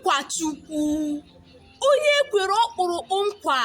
nkwa Chukwu onye e kwere ọkpụrụkpụ nkwa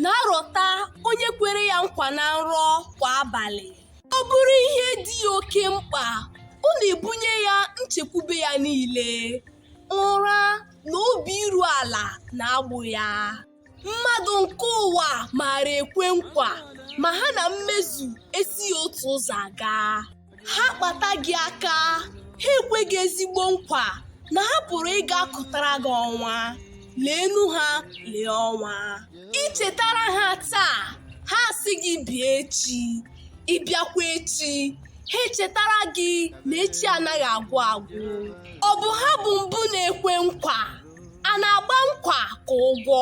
na-arọta onye kwere ya nkwa na nrọ kwa abalị ọ bụrụ ihe dị ya oke mkpa ọ na-ebunye ya nchekwube ya niile ụra na obi iru ala na-agbụ ya mmadụ nke ụwa maara ekwe nkwa ma ha na mmezu esighị otu ụzọ aga ha kpata gị aka ha ekwe gị ezigbo nkwa na ha pụrụ ịga kụtara gị ọnwa leenu ha lee ọnwa i chetara ha taa ha asị gị bịa echi ị bịakwa echi ha echetara gị na echi anaghị agwụ agwụ ọ bụ ha bụ mbụ na-ekwe nkwa a na-agba nkwa ka ụgwọ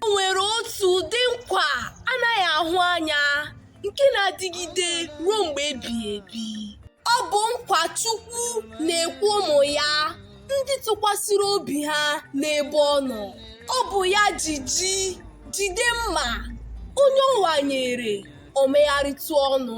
o nwere otu ụdị nkwa a naghị ahụ anya nke na-adịgide ruo mgbe ebighị ebi ọ bụ nkwa Chukwu na-ekwe ụmụ ya ndị tụkwasịrị obi ha n'ebe ọ nọ ọ bụ ya ji ji jide mma onye ọ wanyere o megharịtụ ọnụ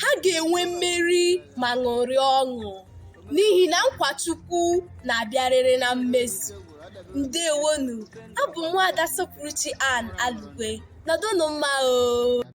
ha ga-enwe mmeri ma ṅụrịa ọṅụ n'ihi na nkwa Chukwu na-abịarịrị na mmezu. Ndewonu, abụ m Nwaada Sopụrụchi Ann Alugwe. Nọdụnụ mma oo.